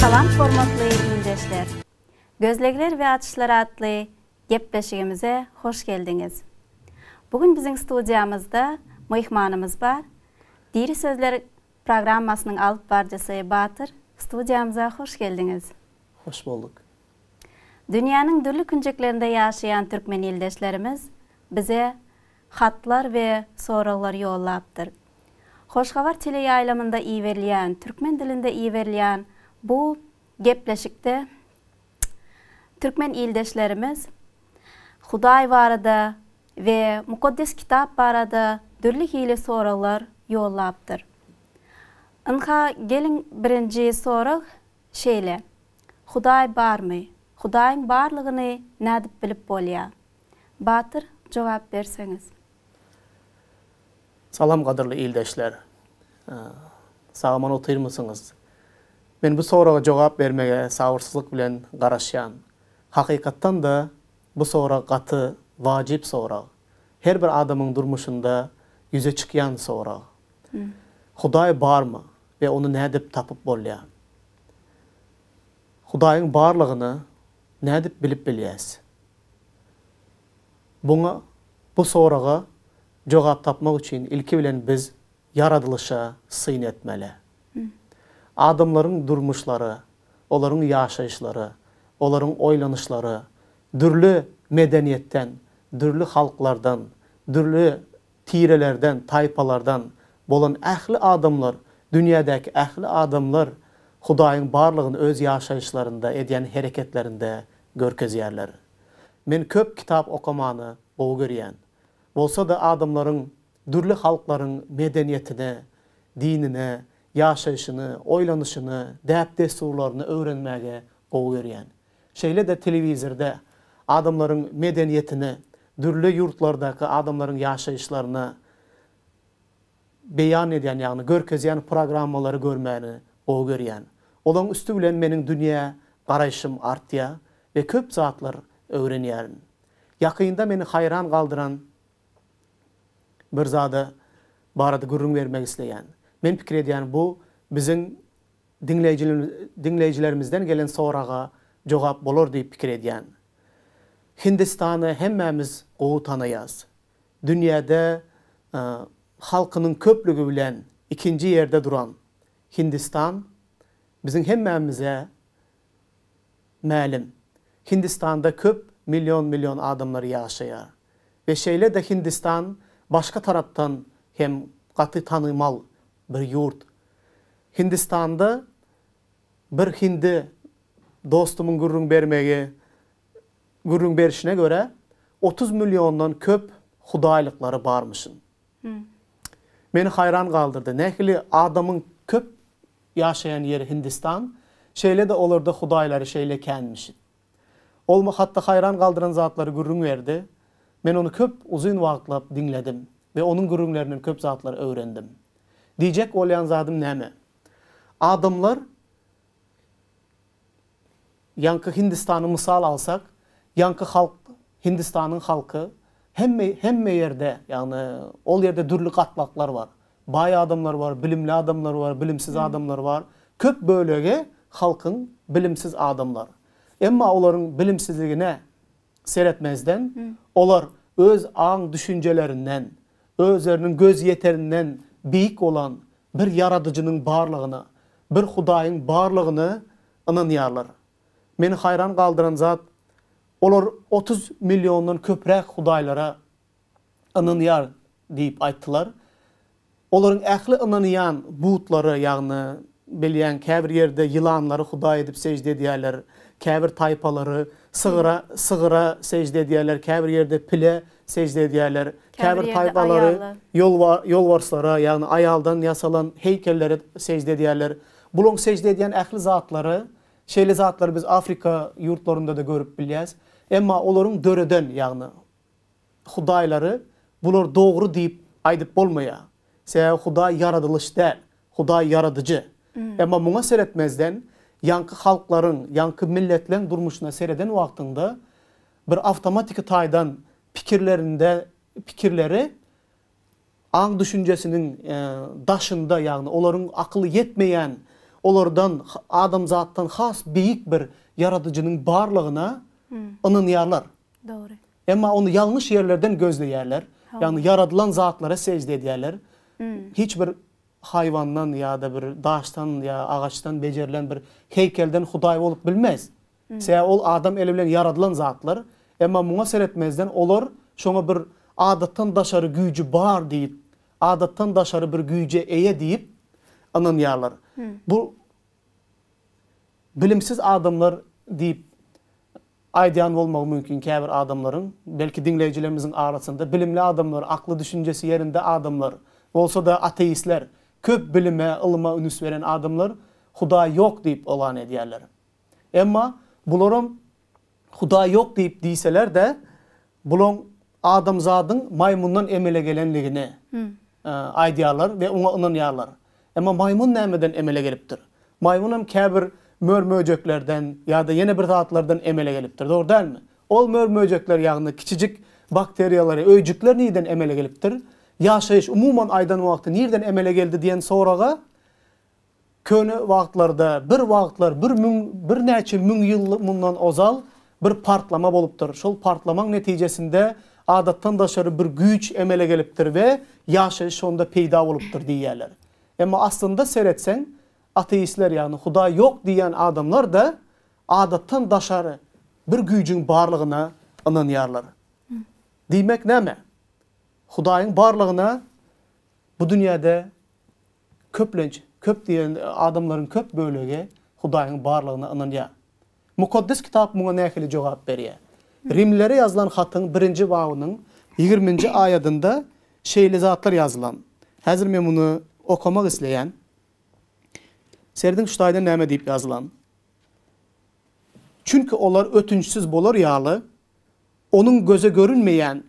Salam hormatly ildeşler! Gözlegler we açyşlar atly gepleşigimize hoş geldiňiz. Bu gün biziň studiýamyzda myhmanymyz bar. Diri sözler programmasynyň alyp barjysy Batyr, studiýamyza hoş geldiňiz! Hoş bolduk! Dünýäniň dürli künjeklerinde ýaşaýan türkmen ildeşlerimiz bize hatlar we soraglar ýollapdyr. Hoş Habar teleýaýlymynda iberilýän, türkmen dilinde iberilýän bu gepleşikde türkmen ildeşlerimiz Hudaý barada we Mukaddes Kitap barada dürli hili soraglar ýollapdyr. Ynha, geliň birinji sorag şeýle, Hudaý barmy? Hudaýyň barlygyny nädip bilip bolýar? Batyr jogap berseňiz. Salam gadyrly ildeşler. Sagaman otyrmysyňyz? Men bu soraga jogap bermege sabyrsyzlyk bilen garaşýan. Hakykatdan-da bu sorag gaty wajyp sorag. Her bir adamyň durmuşynda ýüze çykýan sorag. Hudaý barmy we ony nädip tapyp bolýar? Hudaýyň barlygyny nädip bilip bilýäs? Buňa, bu soraga Jogap tapmak üçin ilki bilen biz ýaradylyşa syn etmeli. Adamlaryň durmuşlary, olaryň ýaşaýyşlary, olaryň oýlanyşlary dürli medeniýetden, dürli halklardan, dürli tirelerden, taýpalardan bolan ähli adamlar, dünýädäki ähli adamlar Hudaýyň barlygyny öz ýaşaýyşlarynda, edýän hereketlerinde görkezýärler. Men köp kitap okamany gowy görýän. Bolsa-da adamlaryň dürli halklaryň medeniýetine, dinine, ýaşaýşyny, oýlanyşyny, däp-dessurlaryny öwrenmäge gowy görýän. Şeýle-de telewizorda adamlaryň medeniýetine, dürli ýurtlardaky adamlaryň ýaşaýyşlaryna beýan edýän, ýagny görkezýän programmalary görmäni gowy görýän. Olaryň üsti bilen meniň dünýä garaýşym artýar we köp zatlar öwrenýärin. Ýakynda meni haýran galdyran bir zada barada gürrüň bermek isleýän. Men pikir edýän bu biziň diňleýjilerimizden gelen soraga jogap bolar diýip pikir edýän. Hindistany hemmämiz gowy tanaýas. Dünýäde halkynyň köplügi bilen ikinji ýerde duran Hindistan biziň hemmämize Mälim, Hindistanda köp million-million adamlar ýaşaýar we şeýle-de Hindistan başga tarapdan hem gaty tanymal bir ýurt. Hindistanda bir hindi dostumyň gürrüň bermegi gürrüň berişine görä, otuz milliondan köp hudaýlyklary barmyşyn. Meni haýran galdyrdy. Nähili adamyň köp ýaşaýan ýeri Hindistan, şeýle-de olarda hudaýlary şeýle känmiş. Ol hatda haýran galdyran zatlary gürrüň berdi. Men ony köp uzyn wagtlap diňledim we onuň gürrüňlerinden köp zatlar öwrendim. Diýjek bolýan zadym näme? Adamlar Ýaňky Hindistany mysal alsak, ýaňky halk, Hindistanyň halky hemme hemme ýerde, ýagny ol ýerde dürli gatlaklar bar. Baý adamlar bar, bilimli adamlar bar, bilimsiz adamlar bar. Köp bölegi halkyň bilimsiz adamlar. Emma olaryň bilimsizligine seretmezden, olar öz aň-düşünjelerinden, Özleriniň gözýeterinden beýik bolan bir Ýaradyjynyň barlygyna, bir Hudaýyň barlygyna ynanýarlar. Meni haýran galdyran zat, olar otuz milliondan köpräk hudaýlara ynanýar diýip aýtdylar. Olaryň ähli ynanýan butlary, ýagny Bilýän, käbir ýerde ýylanlary hudaý edip sežde edýärler, käbir taýpalary sygyra, sygyra sežde edýärler, käbir ýerde pile sežde edýärler, käbir taýpalary ýolbar, ýolbarslara, ýagny aýaldan ýasalan heýkellere sežde edýärler. Bularyň sežde edýän ähli zatlary, şeýle zatlary biz Afrika ýurtlarynda-da görüp bilýäs. Emma olaryň döreden, ýagny Hudaýlary bular dogry diýip aýdyp bolmaýar. Sebäbi Hudaý ýaradylyş däl, Hudaý ýaradyjy. Emma muňa seretmezden, ýaňky halklaryň, ýaňky milletleň durmuşyna sereden wagtyňda, bir awtomatiki taýdan pikirlerinde pikirleri aň-düşünjesiniň daşynda, ýagny olaryň akyly ýetmeýän, olardan, adamzatdan has beýik bir ýaradyjynyň barlygyna ynanýarlar. Dogry. Emma ony ýalňyş ýerlerden gözleýärler. Ýagny ýaradylan zatlara sežde edýärler. Hiç bir haýwandan ýa-da bir daşdan ýa agaçdan bejerilen bir heýkelden hudaý bolup bilmez. Sebäbi ol adam eli bilen ýaradylan zatlar. Emma muňa seretmezden olar şoňa bir adatdan daşary güýji bar diýip, adatdan daşary bir güýje eýe diýip ynanýarlar. Bu bilimsiz adamlar diýip Aýdýan bolmagy mümkin käbir adamlaryň, belki diňleýjilerimiziň arasynda bilimli adamlar, akly düşünjesi ýerinde adamlar, bolsa-da ateistler, köp bilime, ylyma ünüs beren adamlar Hudaý ýok diýip oglan edýärler. Emma bularam Hudaý ýok diýip diýseler-de, bulaň Adamzadyň maýmyndan emele gelenligini aýdýarlar we oňa ynanýarlar. Emma maýmyn nämeden emele gelipdir? Maýmyn hem käbir mör-möjeklerden ýa-da ýene bir zatlardan emele gelipdir, dogry dälmi? Ol mör-möjekler, ýagny kiçijik bakteriýalary, öýjükler nireden emele gelipdir? Ýaşaýyş, umuman aýdan wagty, nireden emele geldi diýen soraga Köne wagtlarda, bir wagtlar, bir müň, birnäçe müň ýyl mundan ozal bir partlama bolupdyr. Şol partlamaň netijesinde adatdan daşary bir güýç emele gelipdir we ýaşaýyş şonda peýda bolupdyr diýýärler. Emma aslynda seretseň, ateistler, ýagny Hudaý ýok diýýän adamlar-da adatdan daşary bir güýjüň barlygyna ynanýarlar. Diýmek näme? Hudaýyň barlygyna bu dünýäde Köplenç, köp diýen adamlaryň köp bölegi Hudaýyň barlygyna ynanýar. Mukaddes Kitap muňa nähili jogap berýär? Rimlilere ýazylan hatyň birinji babynyň ýigriminji aýadynda şeýle zatlar ýazylan. Häzir men muny okamak isleýän. Serediň şu taýdan näme diýip ýazylan. Çünki olar ötünçsiz bolar ýaly, Onuň göze görünmeýän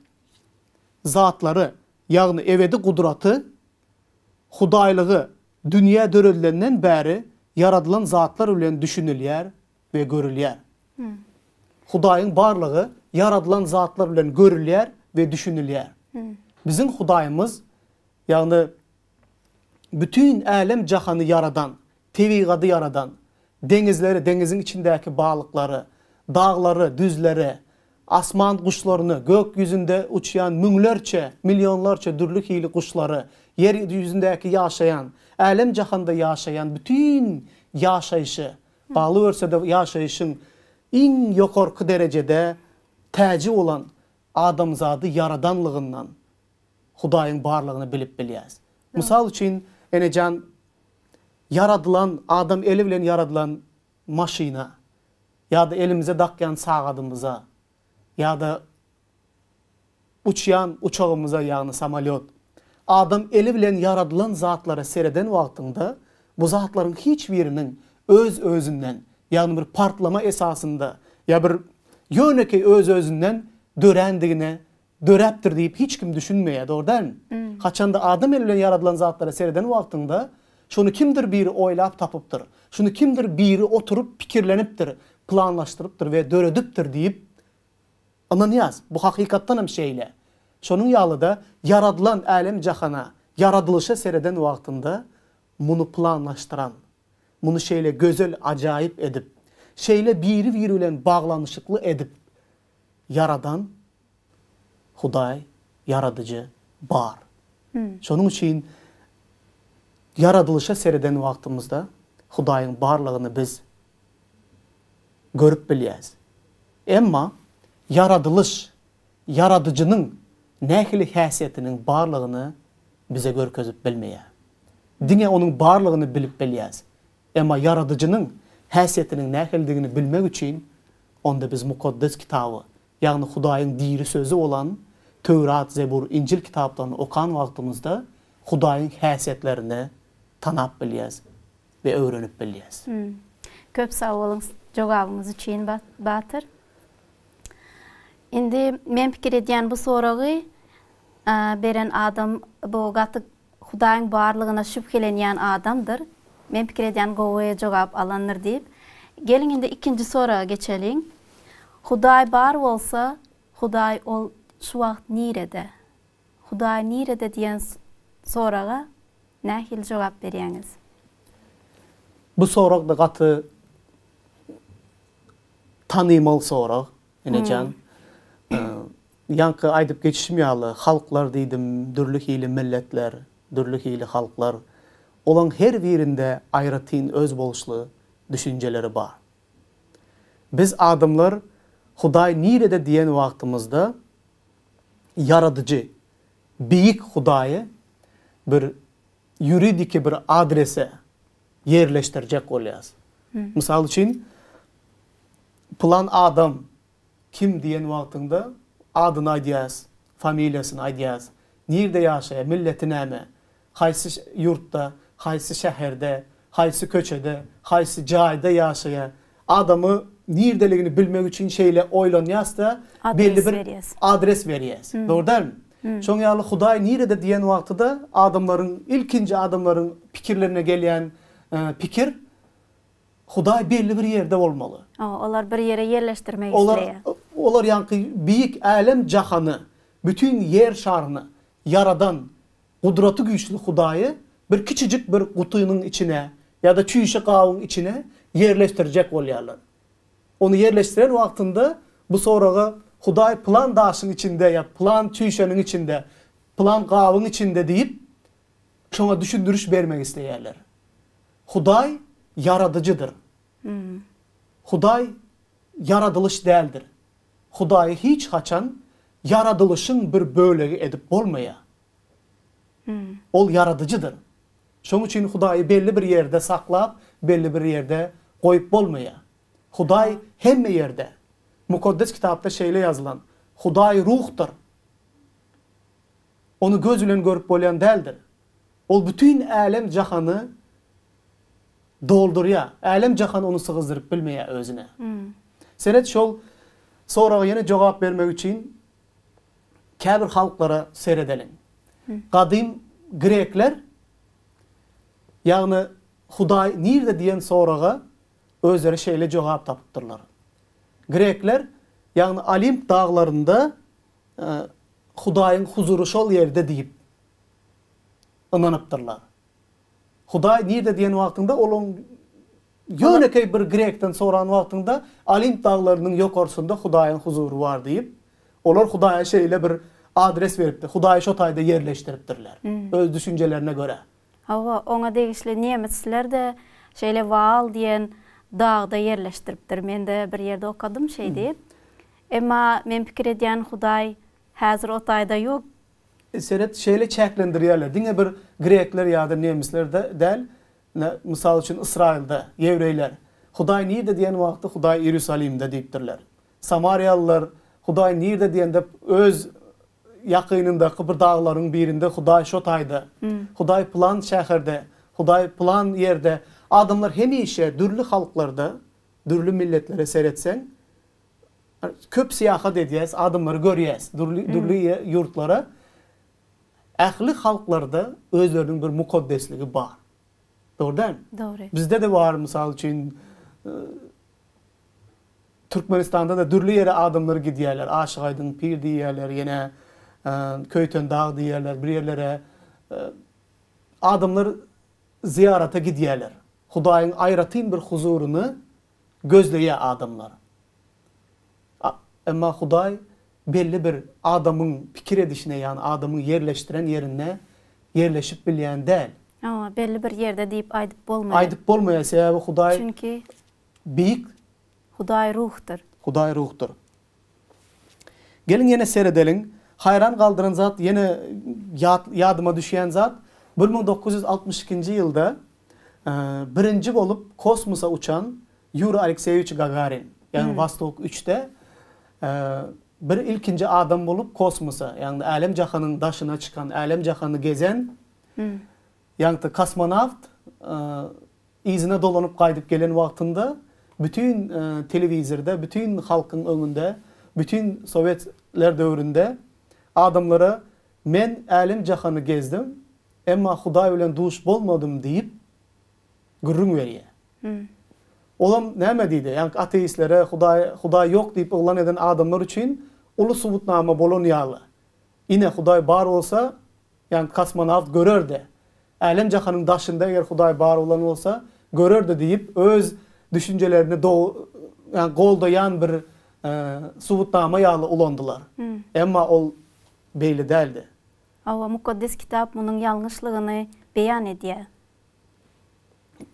zatlary, ýagny ebedi gudraty Hudaýlygy dünýä döredilenden bäri ýaradylan zatlar bilen düşünilýär we görülýär. Hudaýyň barlygy ýaradylan zatlar bilen görülýär we düşünilýär. Biziň Hudaýymyz, ýagny bütin älem-jahany ýaradan, Tebigady ýaradan, deňizleri, deňiziň içindäki balyklary, daglary, düzleri, asman guşlaryny, gök ýüzünde uçýan müňlerçe, millionlarça dürli hili guşlary, ýer ýüzündäki ýaşaýan, älem-jahanda ýaşaýan bütin ýaşaýşy, galyberse-de ýaşaýşyň iň ýokarky derejede täji bolan adamzady ýaradanlygyndan, Hudaýyň barlygyny bilip bilýäs. Mysal üçin, enejan, ýaradylan, adam eli bilen ýaradylan maşyna ýa-da elimize dakýan sagadymyza ýa-da uçýan uçagymyza, ýagny samolýot, adam eli bilen ýaradylan zatlara sereden wagtyňda, bu zatlaryň hiç biriniň öz-özünden, ýagny bir partlama esasynda ýa bir ýönekeý öz-özünden dörändigine döräpdir diýip hiç kim düşünmeýär, dogry dälmi? Haçanda adam eli bilen ýaradylan zatlara sereden wagtyňda, şony kimdir biri oýlap tapypdyr, şuny kimdir biri oturyp pikirlenipdir, planlaşdyrypdyr we döredipdir diýip ynanýas. Bu hakykatdan hem şeýle. Şonuň ýaly-da, ýaradylan älem-jahana, ýaradylyşa sereden wagtyňda, muny planlaşdyran, muny şeýle gözel, ajaýyp edip, şeýle biri-biri bilen baglanyşykly edip Ýaradan, Hudaý, Ýaradyjy, bar. Şonuň üçin ýaradylyşa sereden wagtymyzda Hudaýyň barlygyny biz görüp bilýäris. Emma ýaradylyş Ýaradyjynyň nähili häsiýetiniň barlygyny bize görkezip bilmeýär. Diňe onuň barlygyny bilip bilýäris. Emma Ýaradyjynyň häsiýetiniň nähilidigini bilmek üçin, onda biz Mukaddes Kitaby, ýagny Hudaýyň diri Sözi bolan Töwrat, Zebur, Injil kitaplaryny okan wagtymyzda Hudaýyň häsiýetlerini tanap bilýäs we öwrenip bilýäs. Köp sag boluň jogabyňyz üçin Batyr. Indi men pikir edýän bu soragy beren adam bu gaty Hudaýyň barlygyna şübhelenýän adamdyr. Men pikir edýän gowy jogap alandyr diýip. Geliň indi ikinji soraga geçeliň. Hudaý bar bolsa, Hudaý ol şu wagt nirede? Hudaý nirede diýen soraga nähili jogap berýäňiz? Bu sorag da gaty tanymal sorag. Enejan, ýaňky aýdyp geçişim ýaly, halklar diýdim, dürli hili milletler, dürli hili halklar. Olaň her birinde aýratyn özboluşly düşünjeleri bar. Biz adamlar Hudaý nirede diýen wagtymyzda Ýaradyjy, Beýik Hudaýy bir ýuridiki bir adrese ýerleşdirjek bolýas. Mysal üçin, pylan adam kim diýen wagtyňda adyny aýdýas, familiýasyny aýdýas, nirde ýaşaýar, milleti näme, haýsy ýurtda, haýsy şäherde, haýsy köçede, haýsy jaýda ýaşaýar, Adamy nirdeligini bilmek üçin şeýle oýlanýasda belli bir adres berýäs. Dogry dälmi? Şoň ýaly Hudaý nirede diýen wagtyda adamlaryň ilkinji adamlaryň pikirlerine gelýän pikir Hudaý belli bir ýerde bolmaly. Olar bir ýere ýerleşdirmek isleýär. Olar ýaňky beýik älem jahany, bütin ýer şaryny ýaradan Gudraty güýçli Hudaýy bir kiçijik bir gutynyň içine ýa-da çüýşe gabyň içine ýerleşdirjek bolýarlar. Ony ýerleşdiren wagtynda bu soraga Hudaý pylan daşyň içinde ýa pylan çüýşäniň içinde, pylan gabyň içinde diýip, şoňa düşündiriş bermek isleýärler. Hudaý ýaradyjydyr. Hudaý ýaradylyş däldir. Hudaýy hiç haçan Ýaradylyşyň bir bölegi edip bolmaýar. Ol ýaradyjydyr. Şonuň üçin Hudaýy belli bir ýerde saklap, belli bir ýerde goýup bolmaýar. Hudaý hemme ýerde. Mukaddes Kitapda şeýle ýazylan, Hudaý ruhdyr. Ony göz bilen görüp bolýan däldir. Ol bütin älem-jahany doldurýar. Älem-jahan ony sygyzdyryp bilmeýär özüne. Seret, şol soraga ýene jogap bermek üçin käbir halklara seredeliň. Gadym grekler, ýagny Hudaý nirde diýen soraga özleri şeýle jogap tapypdyrlar. Grekler, ýagny Olimp daglarynda Hudaýyň huzury şol ýerde diýip ynanypdyrlar. Hudaý nirde diýen wagtyňda olaň ýönekeý bir grekden soran wagtyňda Olimp daglarynyň ýokarsynda Hudaýyň huzury bar diýip, olar Hudaýa şeýle bir adres beripdir. Hudaýy şo taýda ýerleşdiripdirler, öz düşünjelerine görä. Hawa, oňa degişli nemisler-de şeýle Waal diýen dagda ýerleşdiripdir. Men-de bir ýerde okadym şeý diýip. Emma men pikir edýän Hudaý häzir o taýda ýok. Seret şeýle çäklendirýärler diňe bir grekler ýa-da nemislerde däl ine mysal üçin Ysraýylda ýewreýler Hudaý nirde diýen wagty Hudaý Ierusalimde diýipdirler. Samariýalylar Hudaý nirde diýende öz ýakynyndaky bir daglaryň birinde Hudaý şo taýda, Hudaý pylan şäherde, Hudaý pylan ýerde adamlar hemişe dürli halklarda dürli milletlere seretseň Köp syýahat edýäs, adamlary görýäs, dürli dürli ýurtlara. Ähli halklarda özleriniň bir mukaddesligi bar. Dogry dälmi? Dogry. Bizde-de bar, mysal üçin, Türkmenistanda-da dürli ýere adamlar gidýärler, Aşyk-Aýdyň pir diýýärler, ýene Köýtendag diýýärler, bir ýerlere adamlar zyýarata gidýärler. Hudaýyň aýratyn bir huzuryny gözleýär adamlar. A, emma Hudaý belli bir adamyň pikir edişine, ýagny adamyň ýerleşdiren ýerine ýerleşip bilýän däl. Hawa, belli bir ýerde diýip aýdyp bolmaýar. Aýdyp bolmaýar, sebäbi Hudaý Çünki beýik. Hudaý ruhdur. Hudaý ruhdur. Geliň ýene seredeliň. Haýran galdyran zat ýene ýat ýadyma düşýän zat bir müň dokuz ýüz altmyş ikinji ýylda birinji bolup kosmosa uçan Ýuri Alekseýewiç Gagarin. Ýagny Wostok üçde bir ilkinji adam bolup kosmosa ýagny älem jahanyň daşyna çykan älem jahany gezen Ýagty kosmonawt yzyna dolanyp gaýdyp gelen wagtynda bütin telewizorda, bütin halkyň öňünde, bütin sowetler döwründe adamlara Men älem-jahany gezdim, emma Hudaý bilen duş bolmadym diýip gürrüň berýär. Olam näme diýdi? Ýagny ateistlere, Hudaý Hudaý ýok diýip yglan eden adamlar üçin uly subutnama bolan ýaly. Ine, Hudaý bar bolsa, Ýagny kosmonawt görer-de, älem-jahanyň daşynda eger Hudaý bar bolan bolsa, görer-de diýip, öz düşünjelerini do ýagny goldaýan bir subutnama ýaly ulandylar. Emma ol beýle däldi. Hawa, Mukaddes Kitap munuň ýalňyşlygyny beýan edýär.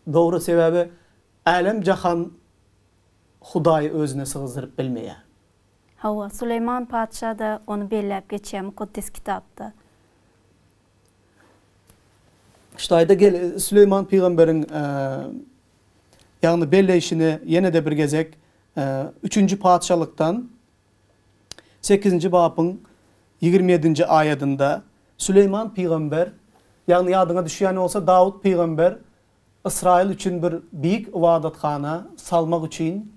Dogry, sebäbi älem-jahan Hudaýy özüne sygzdyryp bilmeýär. Hawa, Süleýman patyşa-da ony belläp geçýär Mukaddes Kitapda. Ştaýda gel, Süleýman pygamberiň, ýagny belleýşini ýene-de bir gezek Üçünji Patyşalykdan sekizinji babyň ýigrimi ýedinji aýadynda Süleýman pygamber, ýagny ýadyňa düşýän bolsa Dawut pygamber Ysraýyl üçin bir beýik ybadathana salmak üçin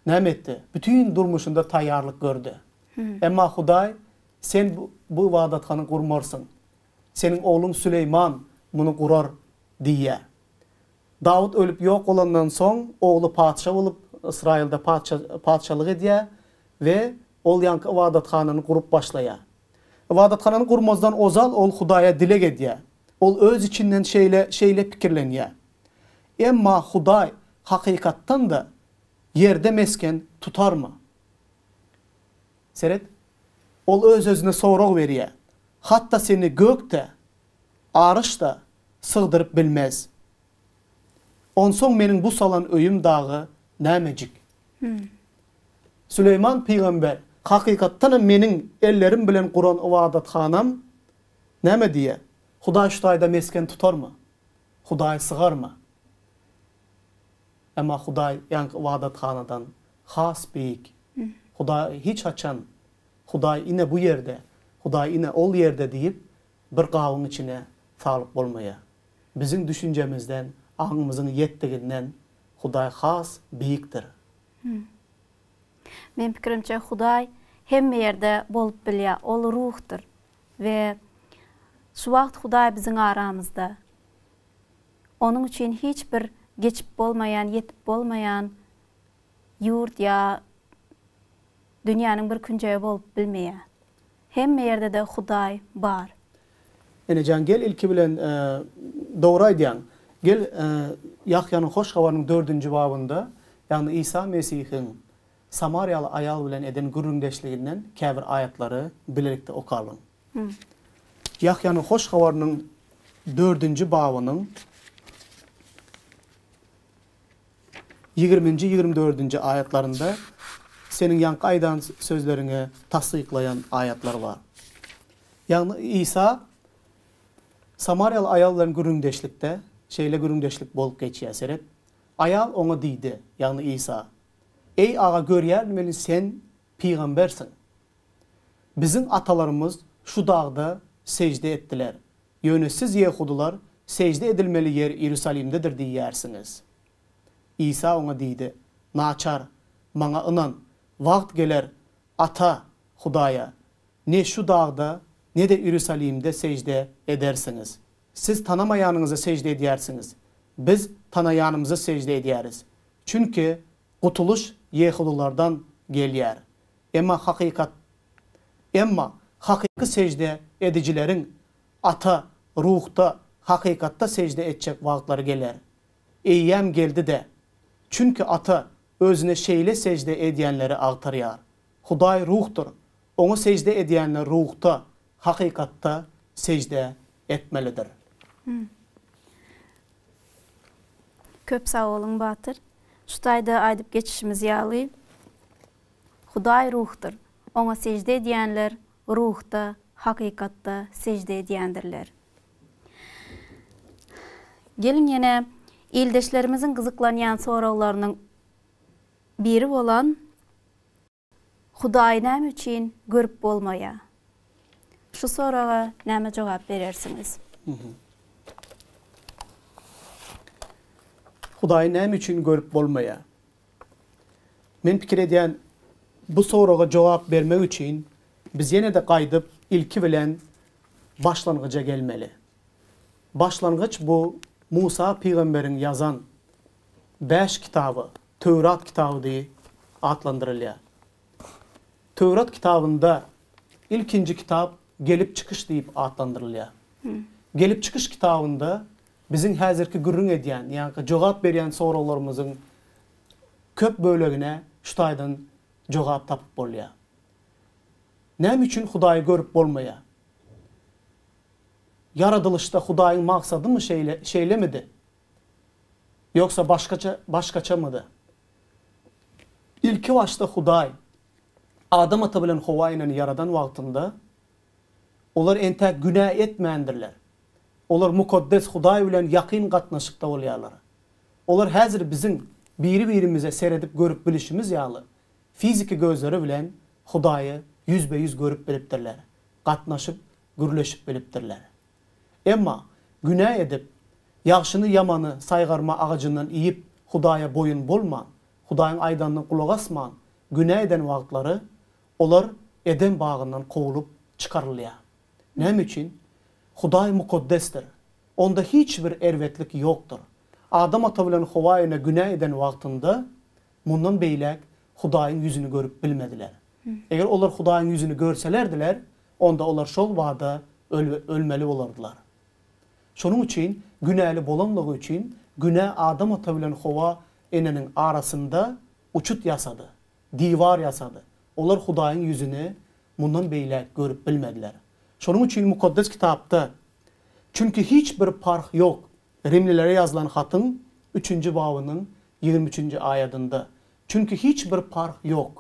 Näme etdi? Bütin durmuşynda taýýarlyk gördi. Emma Hudaý, Sen bu ybadathany gurmarsyň. Seniň ogluň Süleýman muny gurar diýýär. Dawut ölüp ýok bolandan soň, ogly patyşa bolup, Ysraýylda patyşalyk edýär we ol ýaňky ybadathanany gurup başlaýar. Ybadathanany gurmazdan ozal ol Hudaýa dileg edýär. Ol öz içinden şeýle pikirlenýär, Emma Hudaý hakykatdan-da Ýerde mesgen tutarmy? Seret, ol öz-özüne sorag berýär. Hatda seni gök-de, aryş-da sygdyryp bilmez. Onsoň meniň bu salan öýüm dagy nämejik? Süleýman pygamber hakykatdanam meniň ellerim bilen guran ybadathanam näme diýýär? Hudaý şu taýda mesgen tutarmy? Hudaý sygarmy? Emma Hudaý ýaňky ybadathanadan has beýik. Hudaý hiç haçan Hudaý ine bu ýerde, Hudaý ine ol ýerde diýip, bir gabyň içine salyp bolmaýar. Biziň düşünjemizden, aňymyzyň ýetdiginden Hudaý has beýikdir. Meniň pikirimçe, Hudaý hemme ýerde bolup bilýär. Ol Ruhdur we şu wagt Hudaý biziň aramyzda. Onuň üçin hiç bir geçip bolmaýan, ýetip bolmaýan ýurt ýa dünýäniň bir künjegi bolup bilmeýär. Hemme ýerde-de Hudaý bar. Enejan gel ilki bilen Dogry aýdýaň. Gel Ýahýanyň Hoş Habarynyň dördünji babynda, ýagny Isa Mesihiň samariýaly aýal bilen eden gürrüňdeşliginden käbir aýatlary bilelikde okalyň. Ýahýanyň Hoş Habarynyň dördünji babynyň ýigriminji-ýigrimi dördünji aýatlarynda Seniň ýaňky aýdan sözleriňi tassyklaýan aýatlar bar. Ýagny Isa samariýaly aýal bilen gürrüňdeşlikde şeýle gürrüňdeşlik bolup geçýär, seret, Aýal oňa diýdi, ýagny Isa, Eý, Aga, görýärin meni Sen pygambersiň. Biziň atalarymyz şu dagda sežde etdiler, ýöne siz ýehudylar sežde edilmeli ýer Iýerusalimdedir diýýärsiňiz. Isa oňa diýdi, Naçar, Maňa ynan, wagt geler, Ata, Hudaýa, ne şu dagda, ne-de Iýerusalimde sežde edersiňiz. Siz tanamaýanyňyza sežde edýärsiňiz, biz tanaýanymyza sežde edýäris, çünki Gutulyş ýehudylardan gelýär. Emma hakykat Emma hakyky sežde edijileriň Ata ruhda, hakykatda sežde etjek wagtlary geler. Eýýäm geldi-de. Çünki Ata Özüne şeýle sežde edýänleri agtarýar. Hudaý ruhdur. Oňa sežde edýänler ruhda, hakykatda sežde etmelidir. Köp sag boluň Batyr. Şu taýda aýdyp geçişimiz ýaly, Hudaý ruhdur. Oňa sežde edýänler ruhda, hakykatda sežde edýändirler. Geliň ýene ildeşlerimiziň gyzyklanýan soraglarynyň biri bolan Hudaýy näme üçin görüp bolmaýar? Şu soraga näme jogap berersiňiz? Hudaýy näme üçin görüp bolmaýar? Men pikir edýän, bu soraga jogap bermek üçin biz ýene-de gaýdyp ilki bilen başlangyja gelmeli. Başlangyç bu Musa pygamberiň ýazan. bäş kitaba Töwrat kitaby diýi atlandyrylýar. Töwrat kitabynda ilkinji kitap Gelip çykyş diýip atlandyrylýar. Gelip çykyş kitabynda biziň häzirki gürrüň edýän, ýagny jogap berýän soraglarymyzyň köp bölegine şu taýdan jogap tapyp bolýar. Näme üçin Hudaýy görüp bolmaýar? Ýaradylyşda Hudaýyň maksadymy şeýle, şeýlemidi? Ýogsa başgaça başgaçamydy? Ilki başda Hudaý Adam ata bilen Howa eneni ýaradan wagtynda olar entäk günä etmändirler. Olar mukaddes Hudaý bilen ýakyn gatnaşykda bolýarlar. Olar häzir biziň biri-birimize seredip görüp bilişimiz ýaly fiziki gözleri bilen Hudaýy ýüzbe-ýüz görüp bilipdirler, gatnaşyp gürleşip bilipdirler. Emma, günä edip, ýagşyny ýamany saýgarma agajyndan iýip, Hudaýa boýun bolman, Hudaýyň aýdanyna gulak asman, günä eden wagtlary, olar Eden bagyndan kowlup çykarylýar. Näme üçin? Hudaý mukaddesdir. Onda hiç bir erbetlik ýokdur. Adam ata bilen Howa ene günä eden wagtynda, mundan beýläk Hudaýyň ýüzüni görüp bilmediler. Eger olar Hudaýyň ýüzüni görselerdiler, onda olar şol bada ölmeli bolardylar. Şonuň üçin günäli bolanlygy üçin günä Adam ata bilen Howa eneniň arasynda uçut ýasady, diwar ýasady. Olar Hudaýyň ýüzüni mundan beýläk görüp bilmediler. Şonuň üçin Mukaddes Kitapda, Çünki hiç bir parh ýok, Rimlilere ýazylan hatyň üçünji babynyň ýigrimi üçünji aýadynda, Çünki hiç bir parh ýok.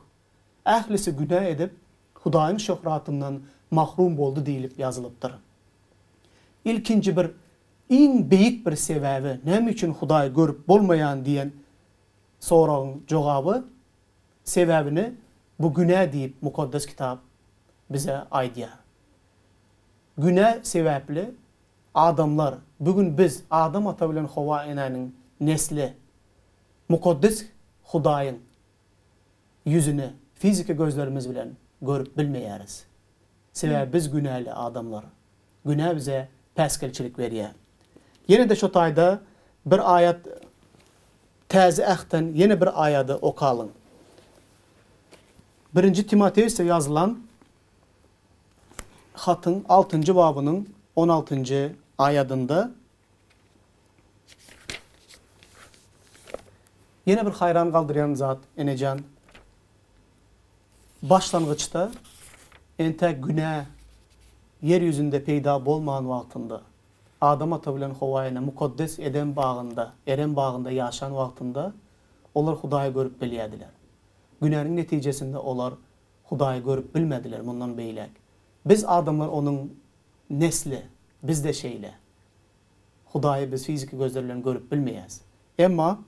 Ählisi günä edip, Hudaýyň şöhratyndan mahrum boldy diýlip ýazylypdyr. Ilkinji bir, iň beýik bir sebäbi, näme üçin Hudaý görüp bolmaýan diýen soragyň jogaby, sebäbini bu günä diýip Mukaddes Kitap bize aýdýar. Günä sebäpli Adamlar, bu gün biz Adam ata bilen Howa enäniň nesli Mukaddes Hudaýyň ýüzüni fiziki gözlerimiz bilen görüp bilmeýäris. Sebäbi biz günäli adamlar. Günä bize päsgelçilik berýär. Ýene-de şu taýda bir aýat Täze Ähtden ýene bir aýady okalyň. Birinji Timoteusda ýazylan. hatyň altynjy babynyň on altynjy aýadynda ýene bir haýran galdyrýan zat enejan başlangyçda entä günä ýer ýüzünde peýda bolman wagtynda Adam ata bilen Howa ene mukaddes Edem bagynda Erem bagynda ýaşan wagtynda olar Hudaýy görüp bilýädiler. Günäniň netijesinde olar Hudaýy görüp bilmediler mundan beýläk. Biz adamlar onuň nesli, biz-de şeýle. Hudaýy biz fiziki gözler bilen görüp bilmeýäs. Emma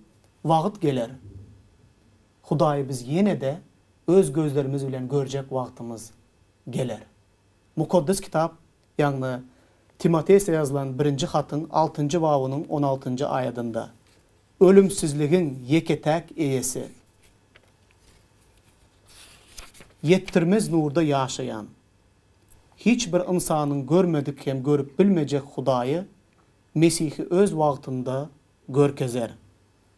wagt geler, Hudaýy biz ýene-de öz gözlerimiz bilen görjek wagtymyz geler. Mukaddes Kitap Ýagny, Timoteýse ýazylan birinji hatyň altynjy babynyň on altynjy aýadynda, Ölümsizligiň ýeke-täk Eýesi, ýetdirmez nurda ýaşaýan, hiç bir ynsanyň görmedik hem görüp bilmejek Hudaýy, Mesihi öz wagtynda görkezer.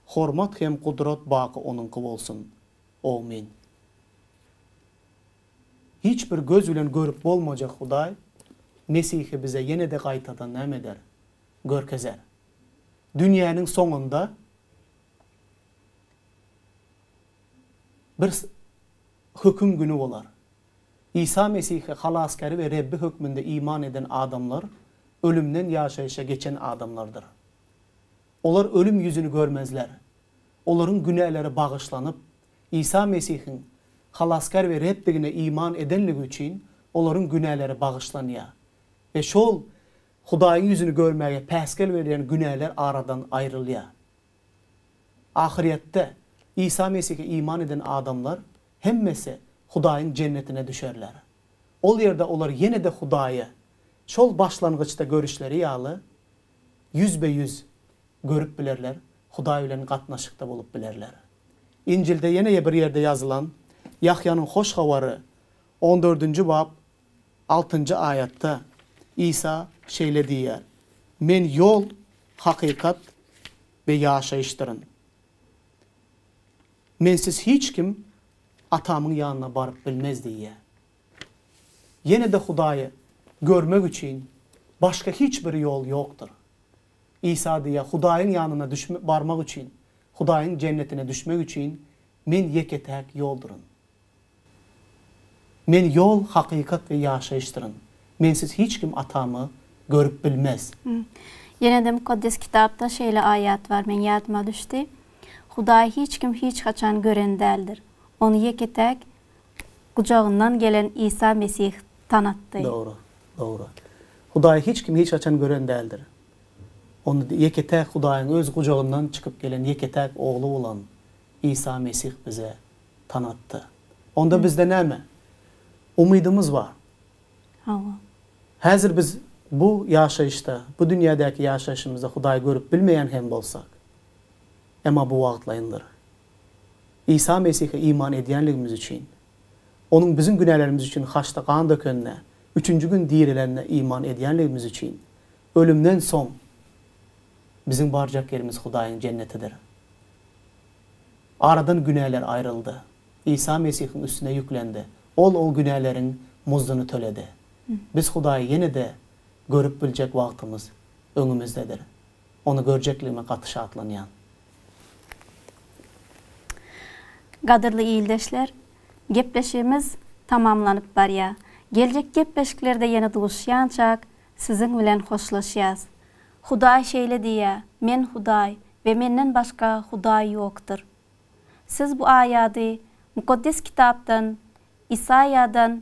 Hormat hem gudrat baky Onuňky bolsun. Awmin. Hiç bir göz bilen görüp bolmajak Hudaý Mesihi bize ýene-de gaýtadan näme eder? Görkezer. Dünýäniň soňunda bir Höküm güni bolar. Isa Mesihi Halasgäri we Rebbi hökmünde iman eden adamlar ölümden ýaşaýşa geçen adamlardyr. Olar ölüm ýüzüni görmezler. Olaryň günäleri bagyşlanyp, Isa Mesihiň Halasgär we Rebdigine iman edenligi üçin olaryň günäleri bagyşlanýar we şol Hudaýyň ýüzüni görmäge päsgel berýän günäler aradan aýrylýar. Ahyrýetde, Isa Mesihe iman eden adamlar hemmesi Hudaýyň Jennetine düşerler. Ol ýerde olar ýene-de Hudaýa, şol başlangyçda görüşleri ýaly, ýüzbe-ýüz, görüp bilerler, Hudaý bilen gatnaşykda bolup bilerler. Injilde ýene-e bir ýerde ýazylan Ýahýanyň Hoş Habary on dördünji bap altynjy aýatda Isa şeýle diýýär, Men ýol, hakykat we ýaşaýyşdyryn. Mensiz hiç kim Atamyň ýanyna baryp bilmez diýýär. Ýene-de Hudaýy görmek üçin başga hiç bir ýol ýokdur. Isa diýýär, Hudaýyň ýanyna düşmek, barmak üçin, Hudaýyň Jennetine düşmek üçin Men ýeke-täk ýolduryn. Men ýol, hakykat we ýaşaýyşdyryn. Mensiz hiç kim Atamy görüp bilmez. Ýene-de Mukaddes Kitapda şeýle aýat bar, meň ýadyma düşdi, Hudaýy hiç kim hiç haçan gören däldir. Ony ýeke-täk gujagyndan gelen Isa Mesih tanatdy. Dogry. Dogry. Hudaýy hiç kim hiç haçan gören däldir. Ony ýeke-täk Hudaýyň öz gujagyndan çykyp gelen ýeke-täk Ogly bolan Isa Mesih bize tanatdy. Onda bizde näme? Umydymyz bar. Hawa. Häzir biz bu ýaşaýyşda, bu dünýädäki ýaşaýşymyzda Hudaýy görüp bilmeýän hem bolsak, emma bu wagtlaýyndyr. Isa Mesihe iman edýänligimiz üçin, Onuň biziň günälerimiz üçin haçda gan dökenine, üçünji gün direlenine iman edýänligimiz üçin, ölümden soň biziň barjak ýerimiz Hudaýyň Jennetidir. Aradan günäler aýryldy. Isa Mesihiň üstüne ýüklendi. Ol o günäleriň muzduny töledi. Biz Hudaýy ýene-de görüp biljek wagtymyz öňümizdedir. Ony görjekligime gaty şatlanýan. Gadyrly ildeşler, gepleşigimiz tamamlanyp barýa. Geljek gepleşiklerde ýene duşýançak siziň bilen hoşlaşýas. Hudaý şeýle diýýä, Men Hudaý we menden başga Hudaý ýokdur. Siz bu aýady Mukaddes Kitapdan, Isaýadan